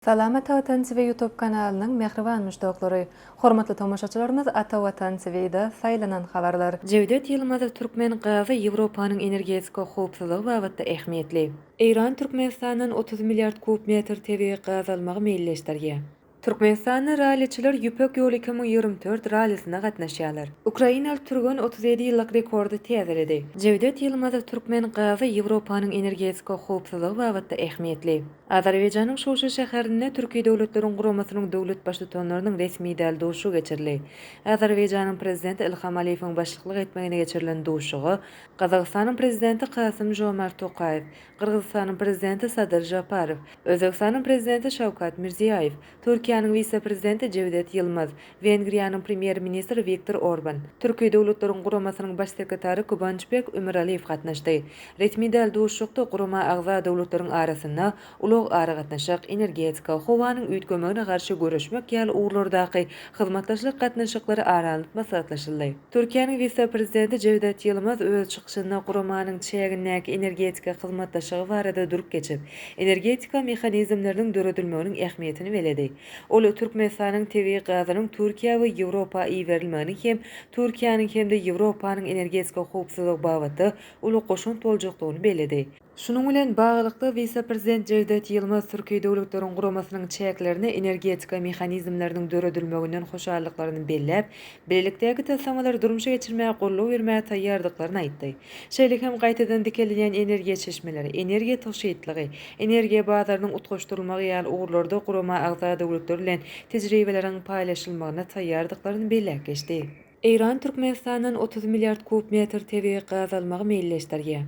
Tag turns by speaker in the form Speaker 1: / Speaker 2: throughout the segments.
Speaker 1: Salamat Watan TV ýutub kanalynyň mähriban muşdaklary, hormatly tomaşaçylarymyz Ata Watan TVda saýlanan habarlar. Jewdet Ýylmazow Türkmen gazy Ýewropanyň energetika howpsuzlygy babatda ähmiýetli. Eýran Türkmenistandan otuz milliard kub metr tebigy gaz almagy meýilleşdirýär. Türkmenistanly ralliçiler Ýüpek ýoly iki müň ýigrimi dört rallisine gatnaşýarlar. Ukrainaly türgen otuz ýedi ýyllyk rekordy täzeledi. Jewdet Ýylmazow Türkmen gazy Ýewropanyň energetika howpsuzlygy babatda ähmiýetli. Azerbaýjanyň Şuşa şäherinde Türki Döwletleriň Guramasynyň döwlet Baştutanlarynyň resmi däl duşuşygy geçirildi. Azerbaýjanyň Prezidenti Ilham Aliýewiň başlyklyk etmeginde geçirilen duşuşyga Gazagystanyň Prezidenti Kasym-Žomart Tokaýew, Gyrgyzystanyň Prezidenti Sadyr Žaparow, Özbegistanyň Prezidenti Şawkat Mirziýaýew, Türkiýäniň wise-prezidenti Jewdet Ýylmaz, Wengriýanyň premýer-ministri Wiktor Orban, Türki döwletleriň guramasynyň baş sekretary Kubançbek Ümiraliýew gatnaşdy. Resmi däl duşuşykda gurama agza döwletleriň arasynda ulag-aragatnaşyk, energetika, howanyň üýtgemegine garşy göreşmek ýaly ugurlardaky hyzmatdaşlyk gatnaşyklary ara alnyp maslahatlaşyldy. Türkiýäniň wise-prezidenti Jewdet Ýylmaz öz çykyşynda guramanyň çägindäki energetika hyzmatdaşlygy barada durup geçip, energetika mehanizmleriniň döredilmeginiň ähmiýetini belledi. Ol Türkmenistanyň tebigy gazynyň Türkiýä we Ýewropa iberilmeginiň hem Türkiýäniň hem-de Ýewropanyň energetika howpsuzlygy babatda uly goşant boljakdygyny belledi. Şunuň bilen baglylykda, wise-prezident Jewdet Ýylmaz Türki Döwletleriň Guramasynyň çäklerinde energetika mehanizmleriniň döredilmeginden hoşallyklaryny belläp, bilelikdäki taslamalary durmuşa geçirmäge goldaw bermäge taýýardyklaryny aýtdy. Şeýle hem gaýtadan dikelýän energiýa çeşmeleri, energiýa tygşytlygy, energiýa bazarynyň utgaşdyrylmagy ýaly ugurlarda gurama agza döwletler bilen tejribeleriň paýlaşylmagyna taýýardyklaryny belläp geçdi. Eýran Türkmenistandan otuz milliard kub metr tebigy gaz almagy meýilleşdirýär.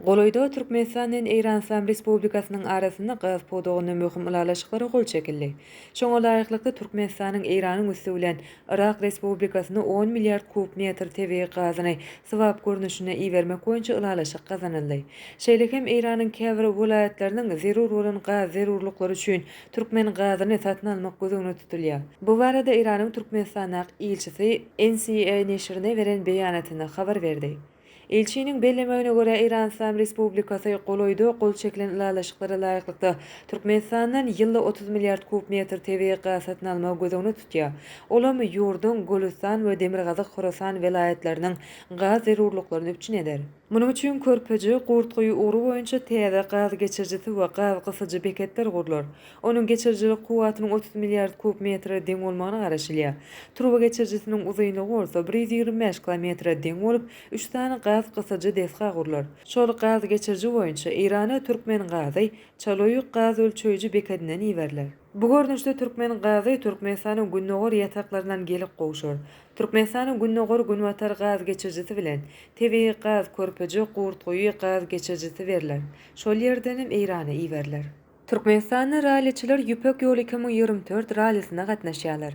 Speaker 1: Golaýda Türkmenistan bilen Eýran Yslam Respublikasynyň arasynda gaz pudagynda möhüm ylalaşyklara gol çekildi. Şoňa laýyklykda, Türkmenistanyň Eýranyň üsti bilen Yrak Respublikasyna on milliard kub metr tebigy gazyny swap görnüşinde ibermek boýunça ylalaşyk gazanyldy. Şeýle hem Eýranyň käbir welaýatlarynyň zerur bolan gaz zerurlyklary üçin türkmen gazyny satyn almak göz öňünde tutulýar. Bu barada Eýranyň Türkmenistandaky ilçisi NCA neşirine beren beýanatynda habar berdi. Ilçiniň bellemegine görä, Eýran Yslam Respublikasy golaýda gol çekilen ylalaşyklara laýyklykda, Türkmenistandan ýylda otuz milliard kub metr tebigy gaz satyn almagy göz öňünde tutýar, olam ýurduň Golüstan we Demirgazyk Horasan welaýatlarynyň gaz zerurlyklaryny üpjün eder. Munuň üçin Körpeje, Gurtguýy ugry boýunça täze gaz geçirijisi we gaz gysyjy beketler gurlar. Onuň geçirijilik kuwwatynyň otuz milliard kub metre deň bolmagyna garaşylýar. Turba geçirijisiniň uzynlygy bolsa bir ýüz ýigrimi bäş kilometre deň bolup, üç sany gaz gysyjy desga gurlar. Şol gaz geçiriji boýunça Eýrana türkmen gazy Çaloýuk gaz ölçeýji bekedinden iberiler. Bu görnüşde türkmen gazy Türkmenistanyň gündogar ýataklaryndan gelip gowşar. Türkmenistanyň gündogar-günbatar gaz geçirijisi bilen tebigy gaz Körpeje, Gurtguýy gaz geçirijisi berler. Şol ýerden hem Eýrana iberiler. Türkmenistanly ralliçiler Ýüpek ýoly iki müň ýigrimi dört rallisine gatnaşýarlar.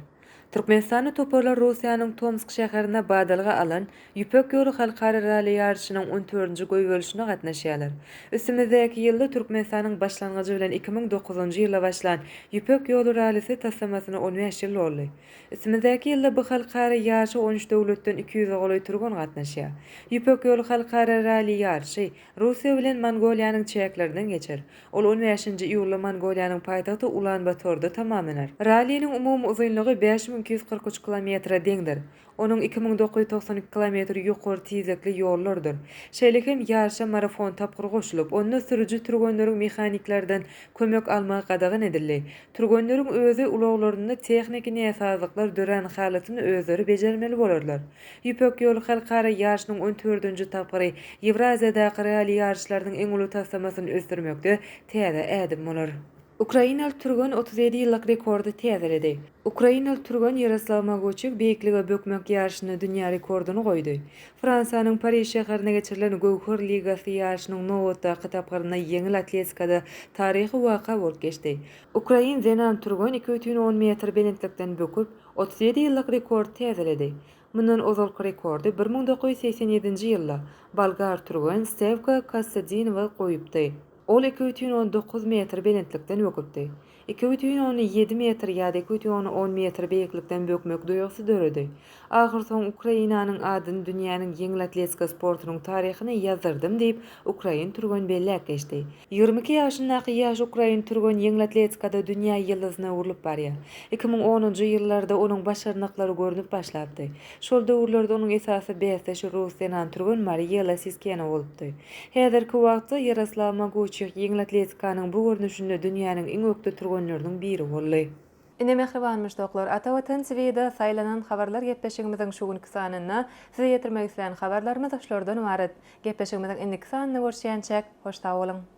Speaker 1: Türkmenistanly toparlar Russiýanyň Tomsk şäherinde badalga alan Ýüpek ýoly halkara ralli ýaryşynyň on dördünji goýberilşine gatnaşýarlar. Üstümizdäki ýylda Türkmenistanyň başlangyjy bilen iki müň dokuzynjy ýylda başlan Ýüpek ýoly rallisi taslamasyna on bäş ýyl doldy. Üstümizdäki ýylda bu halkara ýaryşa on üç döwletden iki ýüze golaý türgen gatnaşýar. Ýüpek ýoly halkara ralli ýaryşy Russiýa bilen Mongoliýanyň çäklerinden geçer. Ol on bäşinji iýulda Mongoliýanyň paýtagty Ulan-Batorda tamamlanar. Ralliniň umumy uzynlygy bäş müň iki ýüz kyrk üç kilometre deňdir. Onuň iki müň dokuz ýüz togsan iki kilometri ýokary tizlikli ýollardyr. Şeýle hem ýaryşa marafon tapgyry goşulyp, onda sürüji türgenleriň mehaniklerden kömek almagy gadagan edildi. Türgenleriň özi ulaglarynda tehniki näsazlyklar dörän halatynda özleri bejermeli bolarlar. Ýüpek ýoly halkara ýaryşynyň on dördünji tapgyry Ýewraziýadaky ralli ýaryşlarynyň iň uly taslamasyny ösdürmekde täze ädim bolar. Ukrainaly türgen otuz ýedi ýyllyk rekordy täzeledi. Ukrainaly türgen Ýaroslaw Maguçik beýiklige bökmek ýaryşynda dünýä rekordyny goýdy. Fransiýanyň Pariž şäherinde geçirilen Göwher ligasy ýaryşynyň nobatdaky tapgyrynda ýeňil atletikada taryhy waka bolup geçdi. Ukrain zenan türgen iki bütin on metr belentlikden böküp, Otuz ýedi ýyllyk rekordy täzeledi. Mundan ozalky rekordy bir müň dokuz ýüz segsen ýedinji ýylda bolgar türgen Stewka Kassadinewa goýupdy. Ol iki bütin on dokuz metr belentlikden böküpdi. Iki bütin on ýedi metr ýa-da iki bütin on on metr beýiklikden bökmek duýgusy döredi. Ahyrsoňy Ukrainanyň adyny dünýäniň ýeňil atletika sportunyň taryhyna ýazdyrdym diýip, ukrain türgen belläp geçdi. Ýigrimi iki ýaşyndaky ýaş ukrain türgen ýeňil atletikada dünýä ýyldyzyna öwrülip barýar. Iki müň onunjy ýyllarda onuň başarnyklary görnüp başlapdy. Şol döwürlerde onuň esasy bäsdeşi rus zenan türgen Mariýa Lasiskena bolupdy. Häzirki wagtda Ýaroslaw Moguçýoh ýeňil atletikanyň bu görnüşinde dünýäniň iň ökde türgenleriniň biri boldy. Ine mähriban muşdaklar, Ata Watan TV-de saýlanan habarlar gepleşigimiziň şu günki sanynda size ýetirmek islän habarlarymyz şulardan ybarat. Gepleşigimiziň indiki sanynda görüşýänçäk, hoş sag boluň!